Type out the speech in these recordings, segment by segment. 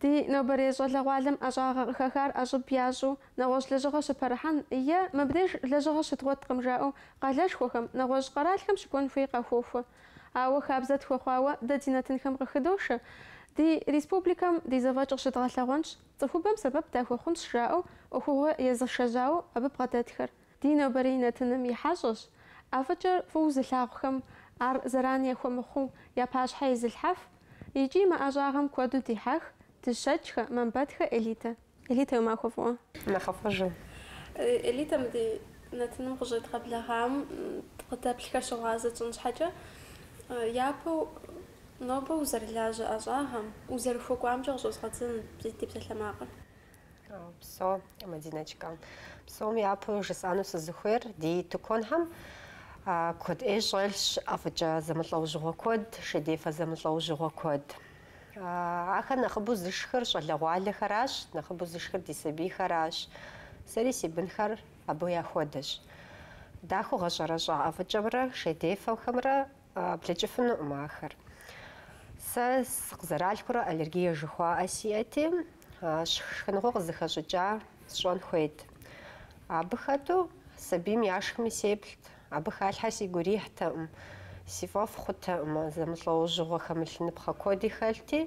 Ди нобэрей щӏалэгъуалэм ӏэщӏагъэ къыхэхар ӏэщӏыб ящӏу нэгъуэщӏ лэжьыгъэ щыпэрыхьэн е мыбдеж лэжьыгъэ щыдгъуэткъым жаӏэу къалэшхуэхэм, нэгъуэщӏ къэралхэм щыкӏуэн хуей къахуохуэ. Ауэ хабзэ тхуэхъуауэ дэ ди нэтынхэм къыхыдошэ, Ди республикэм ди зэфӏэкӏ къыщыдгъэлъэгъуэнщ, цӏыхубэм сэбэп дахуэхъунщ жаӏэу ӏуэхугъуэ езышэжьауэ абы бгъэдэтхэр. Ди нобэрей нэтыным и хьэщӏэщ. ӏэфӏыкӏэр фӏыуэ зылъагъухэм ар зэран яхуэмыхъуу я пащхьэ изылъхьэф икӏи мы ӏэщӏагъэм куэду дихьэх Дыщэкӏхэ, Мамбэтхэ Элитэ. Элитэ уи махуэ фӏыуэ. Нэхъыфӏыжу. Элитэ мы ди нэтыным къыщӏедгъэблэгъам къыдэплъхэр щыгъуазэ тщӏын щхьэкӏэ, япэу нобэ узэрылажьэ ӏэщӏагъэм, узэрыхуэкӏуамкӏэ къыщӏэзгъэдзэнщ ди псалъэмакъыр. Псо, Мадинэчка. Псом япэу жысӏану сызыхуейр ди тыкуэнхэм куэд ӏей щӏэлъщ, ӏэфӏыкӏэ зэмылӏэужьыгъуэ куэд, шейдефэ зэмылӏэужьыгъуэ куэд. Ахэр нэхъыбэу зышхыр щӏалэгъуалэхэращ, нэхъыбэу зышхыр ди сабийхэращ. Сэри си бынхэр абы яхуэдэщ. Дахэу гъэщӏэрэщӏа ӏэфӏыкӏэмрэ шейдефэхэмрэ Блэкӏыфынукъым ахэр. Сэ сыкъызэралъхурэ аллергие жыхуаӏэ сиӏэти, шхыныгъуэ къызыхэщӏыкӏа сщӏэн хуейт. Абы хэту сабийм яшхми сеплът, абы халъхьэ сигу ирихьтэкъым, си фӏэфӏ хъутэкъым, зэмылӏэужьыгъуэ хэмылъыныпхъэ куэди хэлъти,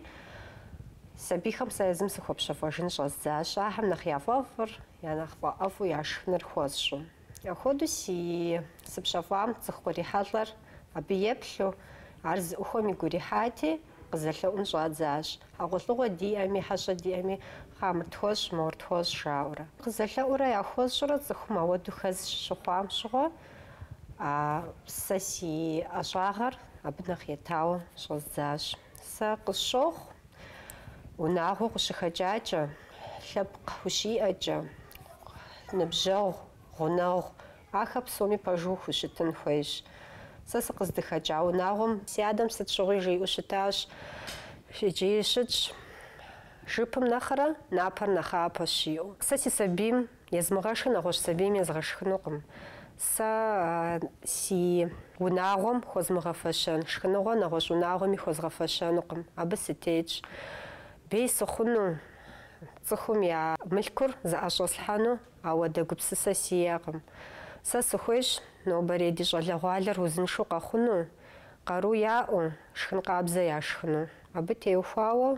сабийхэм сэ езым сыхуэпщэфӏэжын щӏэздзащ, ахэм нэхъ я фӏэфӏыр, я нэхъ фӏэӏэфӏу яшхыныр хуэсщӏу. Ахуэдэу си сыпщэфӏам цӏыху кърихьэлӏэр абы еплъу, ар зыӏухуэм игу ирихьати, къызэлъэӏун щӏадзащ, хьэгъуэлӏыгъуэ диӏэми, хьэщӏэ диӏэми, кхъа мыр тхуэщӏ, мор тхуэщӏ, жаӏэурэ. Къызэлъэӏурэ яхуэсщӏурэ цӏыхум ауэду хэз щыхъуам щыгъуэ, сэ си ӏэщӏагъэр абы нэхъ етауэ щӏэздзащ. Сэ къысщохъу, Унагъуэ укъыщыхэкӏакӏэ, лъэпкъ ущиӏэкӏэ, ныбжьэгъу, гъунэгъу, ахэр псоми пэжу ухущытын хуейщ. Сэ сыкъыздыхэкӏа унагъуэм си адэм сыт щыгъуи жиӏэу щытащ, иджыри щытщ, Жыпым нэхърэ напэр нэхъапэщ, жиӏэу. Сэ си сабийм Езмыгъэшхын нэгъуэщӏ сабийм езгъэшхынукъым. Сэ си унагъуэм хуэзмыгъэфэщэн шхыныгъуэ нэгъуэщӏ унагъуэми хуэзгъэфэщэнукъым. Абы сытетщ. Бей сыхъуну, цӏыхум я мылъкур зыӏэщӏэслъхьэну ауэдэ гупсысэ сиӏэкъым. Сэ сыхуейщ нобэрей ди щӏалэгъуалэр узыншэу къэхъуну, къару яӏэу, шхын къабзэ яшхыну. Абы теухуауэ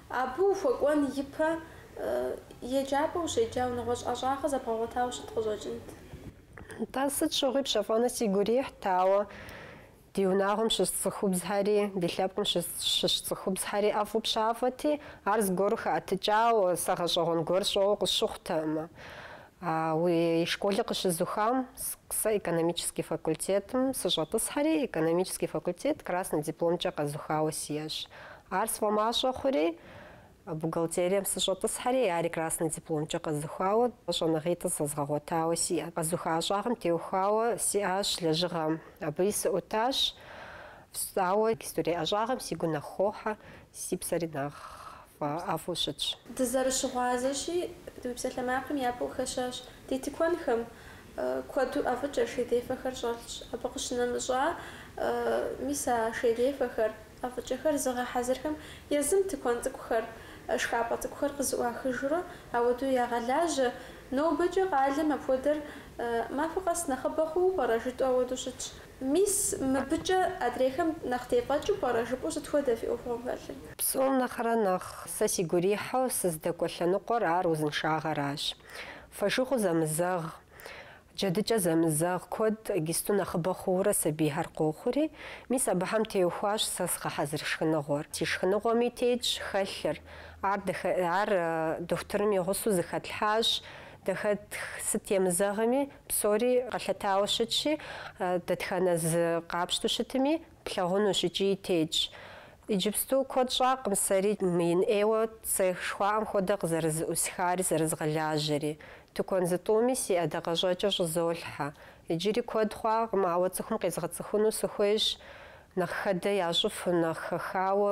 Абы ухуэкӏуэн ипэ еджапӏэ ущеджауэ, нэгъуэщӏ ӏэщӏагъэ зэбгъэгъуэтауэ щыт къыщӏэкӏынт. Нтӏэ, сыт щыгъуи пщэфӏэну сигу ирихьт, ауэ ди унагъуэм щыщ цӏыхубзхэри, ди лъэпкъым щыщ цӏыхубзхэри ӏэфӏу пщафӏэти, ар зыгуэру хэӏэтыкӏауэ, сэ гъэщӏэгъуэн гуэр сщӏэуэ къысщыхъутэкъымэ. Ауэ школыр къыщызухам сэ экономический факультетым сыщӏэтӏысхьэри, экономический факультет красный дипломкӏэ къэзухауэ сиӏэщ. Ар сфӏэмащӏэ хъури, бухгалтерием сыщӏэтӏысхьэри, ари красный дипломкӏэ къэзухауэ, щӏэныгъитӏыр зэзгъэгъуэтауэ сиӏэт. Къэзуха ӏэщӏагъэм теухуауэ сиӏащ лэжьыгъэм, абыи сыӏутащ. Ауэ гистурей ӏэщӏагъэм си гур нэхъ хохьэ, Си псэри нэхъ фӏэӏэфӏу щытщ. Дызэрыщыгъуазэщи, ди псалъэмакъым япэ къыхэщащ. Ди тыкуэнхэм куэду ӏэфӏыкӏэ шейдефэхэр щӏэлъщ. Абы къыщынэмыщӏа, мис а шейдефэхэр, ӏэфӏыкӏэхэр зыгъэхьэзырхэм езым тыкуэн цӏыкӏухэр, шхапӏэ цӏыкӏухэр къызыӏуахыжурэ ауэдэу ягъэлажьэ. Нобэкӏэ къалэм апхуэдэр махуэ къэс нэхъыбэ хъууэ пӏэрэ жытӏэу ауэдэу щытщ. Мис, мыбыкӏэ адрейхэм нэхъ тефӏэкӏыу пӏэрэ жыпӏэу сыт хуэдэ фи ӏуэхугъуэм хэлъыр? Псом нэхърэ нэхъ сэ си гурихьу сыздэкӏуэ лъэныкъуэр ар узыншагъэращ. Фошыгъу зэмызэгъ, джэдыкӏэ зэмызэгъ куэд гисту нэхъыбэ хъуурэ сабийхэр къохъури, мис абыхэм теухуащ сэ згъэхьэзыр шхыныгъуэр. Си шхыныгъуэми тетщ хэлъыр. Ар, э, ар дохутырым и гъусэу зыхэтлъхьащ, дахэтх сыт емызэгъми, Псори къэлъытауэ щытщи, дэтхэнэ зы къапщтэу щытми, плъагъунущ икӏи тетщ. Иджыпсту куэд щӏакъым сэри мыин ӏейуэ цех жыхуаӏэм хуэдэ къызэрызыӏусхари зэрызгъэлажьэри. Тыкуэн зытӏуми си ӏэдакъэщӏэкӏэр щӏызолъхьэ. Иджыри куэд хъуакъым, ауэ цӏыхум къезгъэцӏыхуну сыхуейщ, нэхъ хэдэ ящӏыфу, нэхъ хэхауэ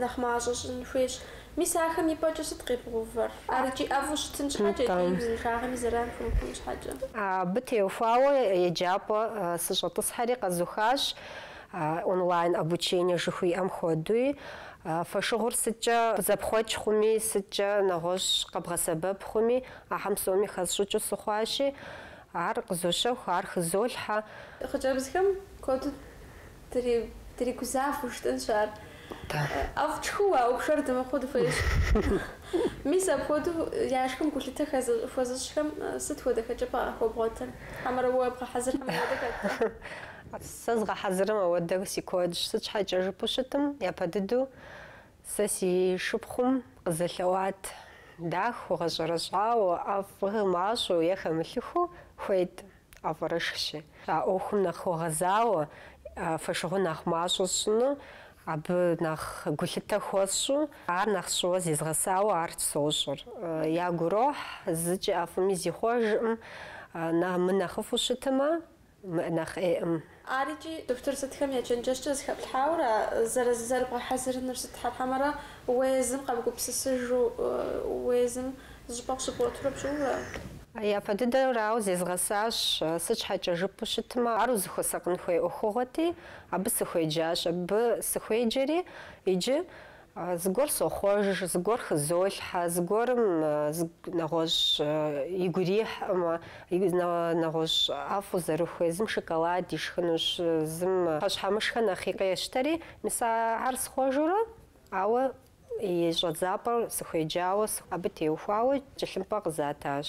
Нэхъ мащӏэ щӏын хуейщ. Мис ахэм и пӏэкӏэ сыт къебгъэувэр? Ар икӏи ӏэфӏу щытын щхьэкӏэ икӏи Нтӏэ. узыншагъэми зэран хэмыхъун щхьэкӏэ. Абы теухуауэ еджапӏэ сыщӏэтӏысхьэри къэзухащ, онлайн обучение жыхуиӏэм хуэдуи. Фошыгъур сыткӏэ зэпхъуэкӏ хъуми, сыткӏэ нэгъуэщӏ къэбгъэсэбэп хъуми, ахьэм псоми хэсщӏыкӏыу сыхъуащи, ар къызощэху, ар хызолъхьэ. Хъыджэбзхэм куэду Дыригузавэу щытынщ ар. ӏэфӏ тшхыу ауэ пшэр дымыхъуу дыхуейщ. Мис апхуэдэу я шхым гулъытэ хуэзыщӏхэм сыт хуэдэ хэкӏыпӏэ къахуэбгъуэтыр? Хьэмэрэ уэ бгъэхьэзырхэм ауэдэ хэт? Сэ згъэхьэзырым ауэдэ си куэдщ. Сыт щхьэкӏэ жыпӏэу щытым, япэ дыдэу сэ си шыпхъум къызэлъэӏуат дахэу, гъэщӏэрэщӏауэ, ӏэфӏ мащӏэу е хэмылъыхыу хуейт. Ӏэфӏырышхщи, а ӏуэхум нэхъ хуэгъэзауэ, фошыгъур нэхъ мащӏэ сщӏыну, абы нэхъ гулъытэ хуэсщӏу, ар нэхъ сщӏыуэ зезгъэсауэ ар сощӏыр. Ягу ирохь, зыкӏи ӏэфӏми зихъуэжкъым, мынэхъыфӏу щытмэ, мыӏэ нэхъ ӏейкъым. Ар икӏи дохутыр сытхэм я чэнджэщкӏэ зыхэплъхьауэра, зэрызы зэрыбгъэхьэзырынур сыт, хьэмэрэ уезым къэбгупсысыжу, уезым зыщӏыпӏэ къыщыбгъуэтурэ пщӏырэ? Япэ дыдэрауэ зезгъэсащ, сыт щхьэкӏэ жыпӏэу щытмэ, ар узыхуэсакъын хуей ӏуэхугъуэти, абы сыхуеджащ. Абы сыхуеджэри, иджы Зыгуэр сохъуэж, зыгуэр хызолъхьэ, зыгуэрым нэгъуэщӏ игу ирихькъымэ, нэгъуэщӏ ӏэфӏу зэрыхуей, зым шоколад ишхынущ, зым пхъэщхьэмыщхьэ нэхъ къещтэри, мис ахэр схъуэжурэ, ауэ и щӏэдзапӏэр сыхуеджауэ, абы теухуауэ тхылъымпӏэ къызатащ.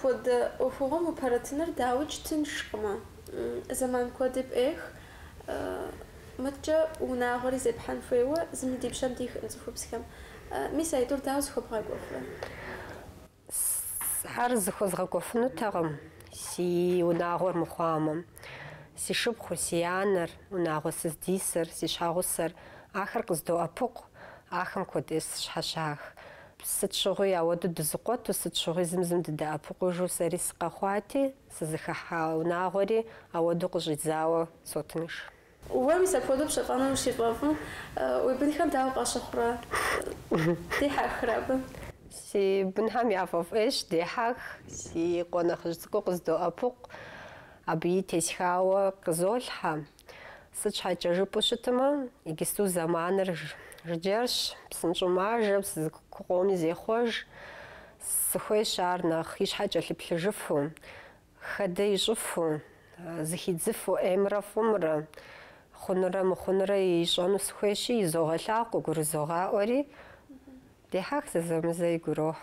Апхуэдэ ӏуэхугъуэм упэрытыныр дауикӏ тыншкъымэ, зэман куэди пӏех, мыдкӏэ унагъуэри зепхьэн хуейуэ зыми ди пщэм дихыркъым цӏыхубзхэм. Мис аитӏур дауэ зыхуэбгъэкӏуэфрэ? Сэ ар зыхуэзгъэкӏуэфынутэкъым си унагъуэр мыхъуамэ. Си шыпхъур, си анэр, унагъуэ сыздисыр, си щхьэгъусэр, ахэр къыздоӏэпыкъу, ахэм куэд сщхьэщах. Сыт щыгъуи ауэду дызыкъуэту, сыт щыгъуи зым-зым дыдэӏэпыкъужу сэри сыкъэхъуати, сызыхыхьа унагъуэри ауэду къыщӏидзауэ сотынш. Уэ мис апхуэдэу пщэфӏэныр зыфӏэфӏым, уи бынхэр дауэ къащыхъурэ, дехьэхрэ абы? Си бынхэм яфӏэфӏ ӏейщ, дехьэх, си къуэ нэхъыжь цӏыкӏур къыздоӏэпыкъу, абыи тесхауэ къызолъхьэ. Сыт щхьэкӏэ жыпӏэу щытмэ, иджысту зэманыр жыджэрщ, псынщӏэу мажэ, псы зыкъоми зехъуэж, сыхуейщ ар нэхъ и щхьэ кӏэлъыплъыжыфу. Хэдэ ищӏыфу, зыхидзыфу ӏеймрэ фӏымрэ, хъунурэ мыхъунурэ ищӏэну сыхуейщи, изогъэлъагъу къыгурызогъаӏуэри, дехьэх зэзэмызэ игу ирохь.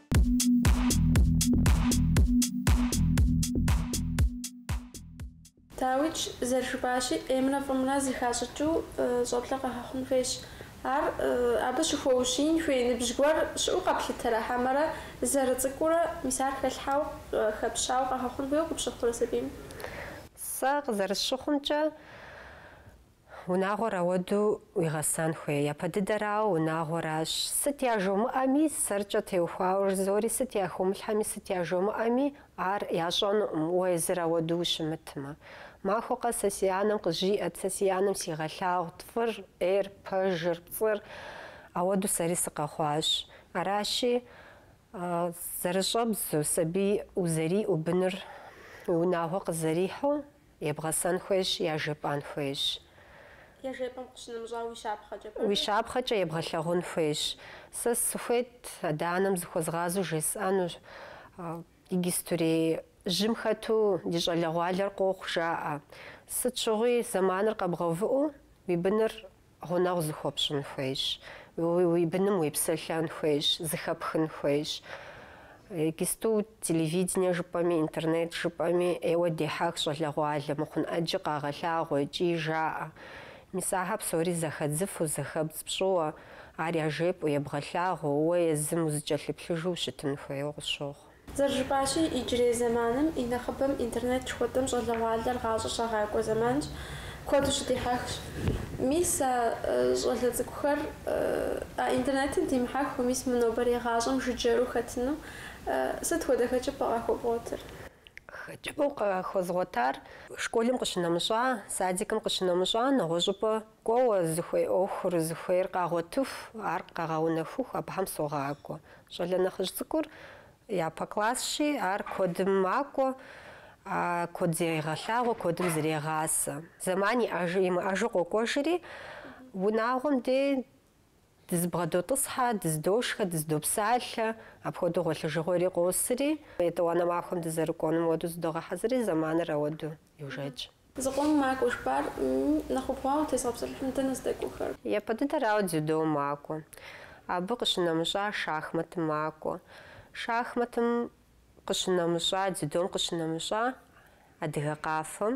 Дауикӏ зэрыжыпӏащи, ӏеймрэ фӏымрэ зыхащӏыкӏыу щӏэблэ къэгъэхъун хуейщ. Ар абы щыхуэущиин хуей ныбжь гуэр щыӏэу къэплъытэрэ хьэмэрэ зэрыцӏыкӏуурэ, мис ар хэлъхьэу, хэпщауэ къэгъэхъун хуейуэ къыпщыхъурэ сабийм? Сэ къызэрысщыхъумкӏэ, Унагъуэр ауэду уигъэсан хуей. Япэ дыдэрауэ унагъуэращ. Сыт яжомыӏэми, сэркӏэ теухуауэ зыори сыт яхыумылъхьэми, сыт яжомыӏэми, ар ящӏэнукъым, уэ езыр ауэду ущымытмэ. Махуэ къэс сэ си анэм къызжиӏэт, сэ си анэм сигъэлъагъут фӏыр, ӏейр, пэжыр, пцӏыр. Ауэду сэри сыкъэхъуащ. Аращи, зэрыщӏэбдзу, сабий узэриӏэу, быныр уи унагъуэ къызэрихьу, Ебгъэсэн хуейщ, яжепӏэн хуейщ. Яжепӏэм къыщынэмыщӏауэ уи щапхъэкӏэ пӏэрэ? Уи щапхъэкӏэ ебгъэлъагъун хуейщ. Сэ сыхуейт адэ-анэм зыхуэзгъазу жесӏэну, ди иджыстурей жьым хэту ди щӏалэгъуалэр къохъу жаӏэ. Сыт щыгъуи зэманыр къэбгъэувыӏэу уи быныр Гъунэгъу зыхуэпщӏын хуейщ, уи быным уепсэлъэн хуейщ, зыхэпхын хуейщ. Иджысту телевидение жыпӏэми, интернет жыпӏэми ӏейуэ дехьэх щӏалэгъуалэ мыхъун ӏэджи къагъэлъагъуэ икӏи жаӏэ. Мис ахэр псори зэхэдзыфу, зэхэбдз пщӏыуэ, ар яжепӏэу, ебгъэлъагъуэу, уэ езым узыкӏэлъыплъыжу ущытын хуейуэ къысщохъу. Зэрыжыпӏащи, иджырей зэманым и нэхъыбэм интернет жыхуэтӏэм щӏалэгъуалэр гъащӏэ щагъакӏуэ зэманщ, куэду щыдихьэхщ. Мис а щӏалэ цӏыкӏухэр а интернетым димыхьэхыу, мис мы нобэрей гъащӏэм жыджэру хэтыну сыт хуэдэ хэкӏыпӏэ къахуэбгъуэтыр? Хэкӏыпӏэу къахуэзгъуэтар, школым къыщынэмыщӏа, садикым къыщынэмыщӏа, нэгъуэщӏыпӏэ Кӏуэуэ, зыхуей ӏуэхур зыхуейр къагъуэтыху, ар къагъэунэхуху, абыхэм согъакӏуэ. Щӏалэ нэхъыжь цӏыкӏур япэ классщи, ар куэдым макӏуэ, куэд зегъэлъагъуэ, куэдым зрегъасэ. Зэман иӏэжу-имыӏэжу къокӏуэжри, унагъуэм дей Дызыбгъэдотӏысхьэ, дыздошхэ, дыздопсалъэ, апхуэдэу гъуэлъыжыгъуэри къосри, етӏуанэ махуэм дызэрыкӏуэнум хуэду зыдогъэхьэзыри, зэманыр ауэду йожэкӏ. Зыкъом макӏуэ жыпӏар нэхъ убгъуауэ утезгъэпсэлъыхьым дэнэ здэкӏуэхэр? Япэ дыдэрауэ дзюдом макӏуэ. Абы къыщынэмыщӏа шахматым макӏуэ. Шахматым къыщынэмыщӏа, дзюдом къыщынэмыщӏа адыгэ къафэм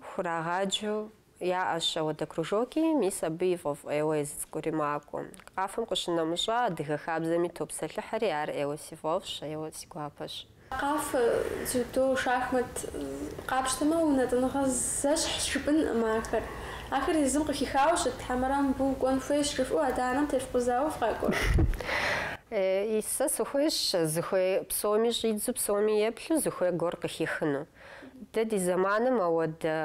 хурагъаджэу Яӏэщ ауэдэ кружокӏи, мис абы и фӏэфӏ ӏейуэ езы цӏыкӏури макӏуэ. КАФЭ-м къыщынэмыщӏа адыгэ хабзэми топсэлъыхьри, ар ӏейуэ си фӏэфӏщ, ӏейуэ си гуапэщ. КАФЭ, дзюдо, шахмат къапщтэмэ, унэтӏыныгъэ зэщхьщ жыпӏэнкъым ахэр. Ахэр езым къыхихауэ щыт хьэмэрэ мыбы укӏуэн хуейщ жыфӏэу адэ-анэм тефкъузауэ фыкъакӏуэ? Е, сэ сыхуейщ зыхуей псоми щӏидзэу, псоми еплъу зыхуей гуэр къыхихыну. Дэ ди зэманым ауэдэ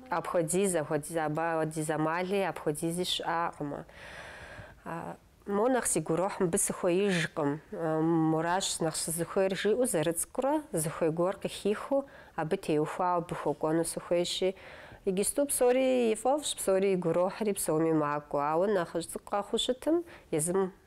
Апхуэдиз, апхуэдиз, абы хуэдиз амали апхуэдизи щыӏакъым. Мо нэхъ си гурохь мыбы сыхуеижкъым, моращ нэхъ сызыхуейр, жиӏэу зэрыцӏыкӏурэ зыхуей гуэр къыхихыу абы теухуауэ абы хуэкӏуэну сыхуейщи, иджысту псори и фӏэфӏщ, псори и гурохьри псоми макӏуэ, ауэ нэхъыжь цӏыкӏуу къэхъуу щытым, езым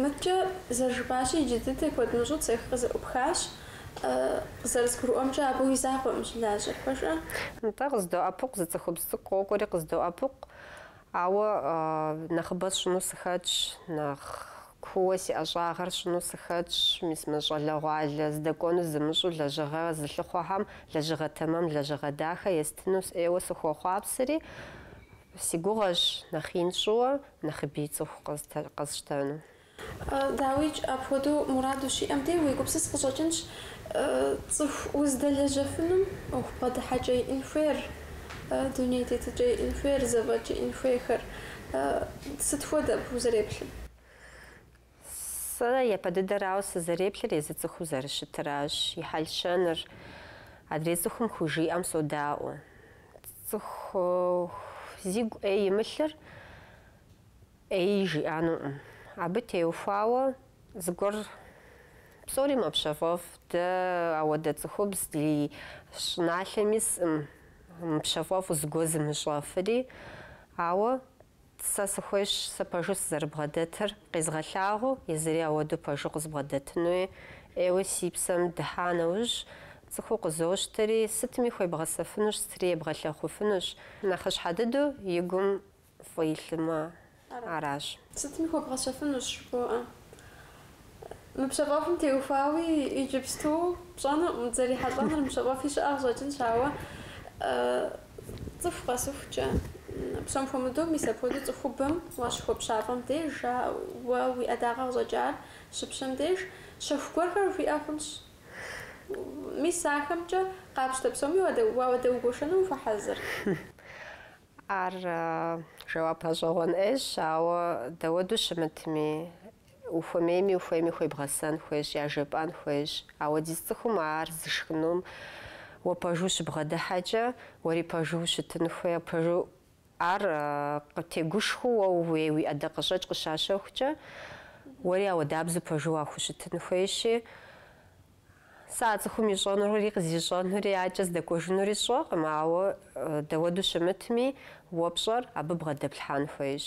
Мыдэкӏэ зэрыжыпӏащи, иджы дыдэ куэд мыщӏэу цех къызэӏупхащ. Къызэрызгурыӏуэмкӏэ, абы уи закъуэщ щылажьэр, пэж? Нтӏэ, къыздоӏэпыкъу, зы цӏыхубз цӏыкӏу къокӏуэри къыздоӏэпыкъу, ауэ нэхъыбэ сщӏыну сыхэтщ, нэхъ. Куууэ си ӏэщӏагъэр сщӏыну сыхэтщ, мис мы щӏалэгъуалэ здэкӏуэну зымыщӏэу лэжьыгъэ зылъыхъуэхэм, лэжьыгъэ тэмэм лэжьыгъэ дахэ естыну сыӏейуэ сыхуохъуапсэри, си гугъэщ нэхъ ин сщӏыуэ нэхъыбэ цӏыху къэсщтэну. Дауикӏ, апхуэдэу мурад ущиӏэм деж уегупсыс къыщӏэкӏынщ цӏыху уздэлэжьэфынум ӏуэху бгъэдыхьэкӏэ иӏэн хуейр, дуней тетыкӏэ иӏэн хуейр, зэфӏэкӏ иӏэн хуейхэр. Сыт хуэдэ фызэреплъыр? Сэ япэ дыдэрауэ сызэреплъыр езы цӏыхуу зэрыщытыращ. И хьэл-щэныр адрей цӏыхум хужиӏэм содаӏуэ. Цӏыху зигу ӏей имылъыр ӏеи жиӏэнукъым. Абы теухуауэ. Зыгуэр псори мэпщэфӏэф, дэ ауэдэ цӏыхубз ди щӏыналъэм искъым, мыпщэфӏэфу зыгуэр зымыщӏэфри. Ауэ сэ сыхуейщ сэ пэжу сызэрыбгъэдэтыр къезгъэлъагъуу, езыри ауэдэу пэжу къызбгъэдэтынуи. ӏейуэ си псэм дыхьа нэужь, цӏыху къызощтэри, сытми хуебгъэсэфынущ, сытри ебгъэлъагъуфынущ. Нэхъыщхьэ дыдэу и гум фӏы илъмэ, аращ. Сытми хуебгъэсэфынущ жыбоӏэ. Мы пщэфӏэфым теухуауи иджыпсту пщӏэнукъым, дызэрихьэлӏэнур мыпщэфӏэфи щыӏэ къыщӏэкӏынщ, ауэ цӏыху къэсыхукӏэ, псом хуэмыдэу мис апхуэдэу цӏыхубэм уащыхуэпщафӏэм деж, ауэ уи ӏэдакъэ къыщӏэкӏар щыпщэм деж, щэху гуэрхэр уиӏэ хъунщ. Мис ахэмкӏэ къапщтэ псоми уадэгуэшэну ухуэхьэзыр? Ар жэуап гъэщӏэгъуэн ӏейщ, ауэ дауэду щымытми, ухуэмейми ухуейми хуебгъэсэн хуейщ, яжепӏэн хуейщ. Ауэдиз цӏыхум ар зышхынум уэ пэжу щыбгъэдыхьэкӏэ, уэри пэжу ущытын хуей, пэжу ар къытегушхуэу уэ ууей уи ӏэдакъэщӏэкӏ къыщащэхукӏэ, уэри ауэдабзэу пэжу уахущытын хуейщи, Сэ а цӏыхум ищӏэнури къызищӏэнури адэкӏэ здэкӏуэжынури сщӏэкъым, ауэ дауэду щымытми, уэ пщӏэр абы бгъэдэплъхьэн хуейщ.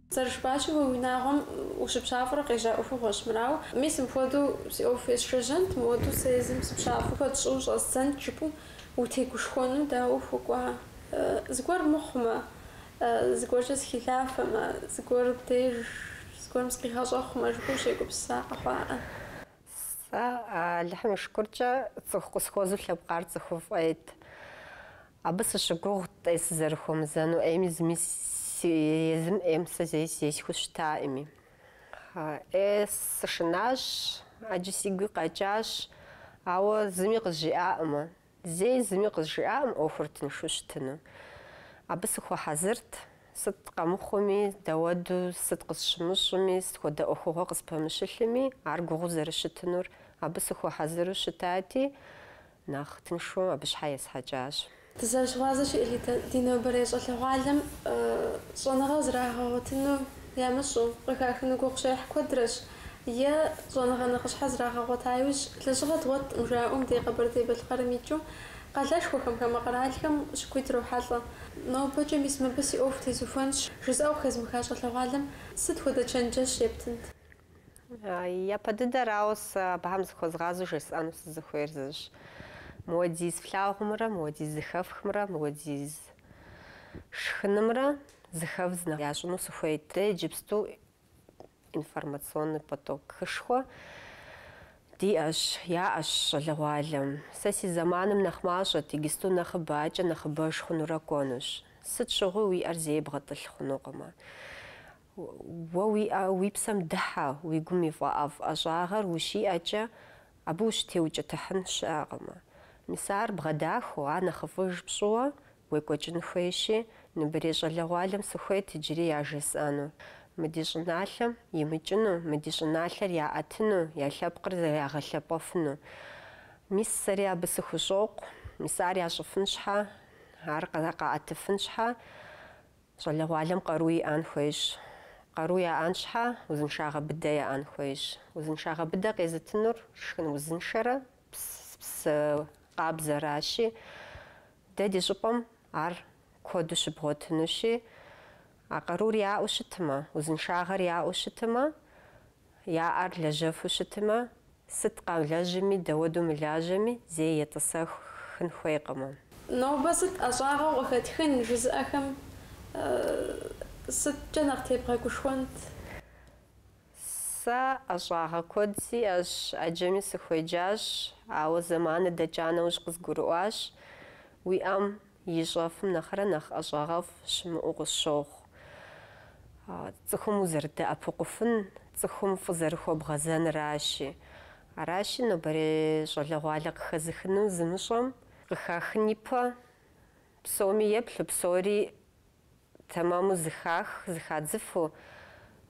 Зэрыжыпӏащи, уи унагъуэм ущыпщафӏэурэ къежьа ӏуэхугъуэщ мыр. Ауэ мис мыпхуэдэу си ӏуэху есшэжьэнт, мыуэду сэ езым сыпщафӏэу куэд сщӏыуэ щӏэздзэнт жыпӏэу утегушхуэну дауэ ухуэкӏуа? Зыгуэр мыхъумэ, зыгуэркӏэ сыхилъафэмэ, зыгуэр деж, зыгуэрым сыкъигъэщӏэхъумэ жыпӏэу ущегупсыса къэхъуаӏэ. Сэ, Алыхьым и шыкуркӏэ, цӏыху къысхуэзу лъэпкъар цӏыхуфӏ ӏейт. Абы сыщыгугът ӏей сызэрыхуэмызэну, ӏейми зыми си езым ӏейм сэ зэи зесхьэу щытакъыми. ӏей сышынащ, ӏэджи сигуи къэкӏащ, ауэ зыми къызжиӏакъымэ. Зэи зыми къызжиӏакъым ӏуэхур тыншу щытыну. Абы сыхуэхьэзырт, сыт къэмыхъуми, дауэду сыт къысщымыщӏыми, сыт хуэдэ ӏуэхугъуэ къыспэмыщылъми, ар гугъуу зэрыщытынур, абы сыхуэхьэзыру щытати, нэхъ тыншу абы щхьэ есхьэкӏащ. Дызэрыщыгъуазэщи, элитэ ди нобэрей щӏалэгъуалэм щӏэныгъэ зрагъэгъуэтыну ямыщӏэу къыхахыну гугъу щехь куэдрэщ. е щӏэныгъэ нэхъыщхьэ зрагъэгъуэта иужь, лэжьыгъэ дгъуэтӏым, жаӏэу мы ди Къэбэрдей-Балъкъэрым икӏыу къалэшхуэхэм, хамэ къэралхэм щыкӏуи дрохьэлӏэ. Нобэкӏэ мис мыбы си ӏуэху тезухуэнщ, жысӏэу хэзмыха щӏалэгъуалэм сыт хуэдэ чэнджэщ ептынт? Япэ дыдэрауэ, сэ абыхэм зыхуэзгъазэу жесӏэну сызыхуейр зыщ, мыуэдиз флъагъумрэ мыуэдиз зыхэфхымрэ мыуэдиз шхынымрэ зэхэдз нэхъ ящӏыну сыхуейт. Дэ иджыпсту Информационный потокышхуэ диӏэщ, яӏэщ щӏалэгъуалэм. Сэ си зэманым нэхъ мащӏэт, иджыпсту нэхъыбэ, адэкӏэ нэхъыбэж хъунурэ кӏуэнущ. Сыт щыгъуи уи ӏэр зэи бгъэтӏылъ хъунукъымэ. Уэ уи ӏэ уи псэм дыхьэ, уи гум и фӏэӏэфӏ ӏэщӏагъэр ущиӏэкӏэ, Абы ущытеукӏытыхьын щыӏэкъымэ. Мис ар бгъэдахэу, ар нэхъыфӏыж пщӏыуэ уекӏуэкӏын хуейщи, нобэрей щӏалэгъуалэм сыхуейт иджыри яжесӏэну. Мы ди щӏыналъэм имыкӏыну, мы ди щӏыналъэр яӏэтыну, я лъэпкъыр зэрагъэлъэпӏэфыну. Мис сэри абы сыхущӏокъу. Мис ар ящӏыфын щхьэ, ар къаӏэтыфын щхьэ, Щӏалэгъуалэм къару иӏэн хуейщ. Къару яӏэн щхьэ, узыншагъэ быдэ яӏэн хуейщ. Узыншагъэ быдэ къезытынур шхын узыншэрэ псы къабзэращи, дэ ди щӏыпӏэм ар куэду щыбгъуэтынущи, а къарур яӏэу щытмэ, узыншагъэр яӏэу щытмэ, Я ӏэр лэжьэфу щытмэ, сыт къамылэжьми, дауэду мылажьэми, зэи етӏысэхын хуейкъымэ. Нобэ сыт ӏэщӏагъэу къыхэтхын жызыӏэхэм сыткӏэ нэхъ тебгъэгушхуэнт? Сэ ӏэщӏагъэ куэд сиӏэщ, ӏэджэми сыхуеджащ, ауэ зэманыр дэкӏа нэужь къызгурыӏуащ, уи ӏэм ищӏэфым нэхърэ нэхъ ӏэщӏагъэфӏ щымыӏэу къысщохъу. Цӏыхум узэрыдэӏэпыкъуфын цӏыхум фӏы зэрыхуэбгъэзэныращи. Аращи, нобэрей щӏалэгъуалэ къыхэзыхыну зымыщӏэм, къыхахын ипэ псоми еплъу, псори тэмэму зыхах, зыхадзыфу,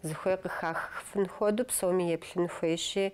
зыхуей къыхахыфын хуэдэу псоми еплъын хуейщи,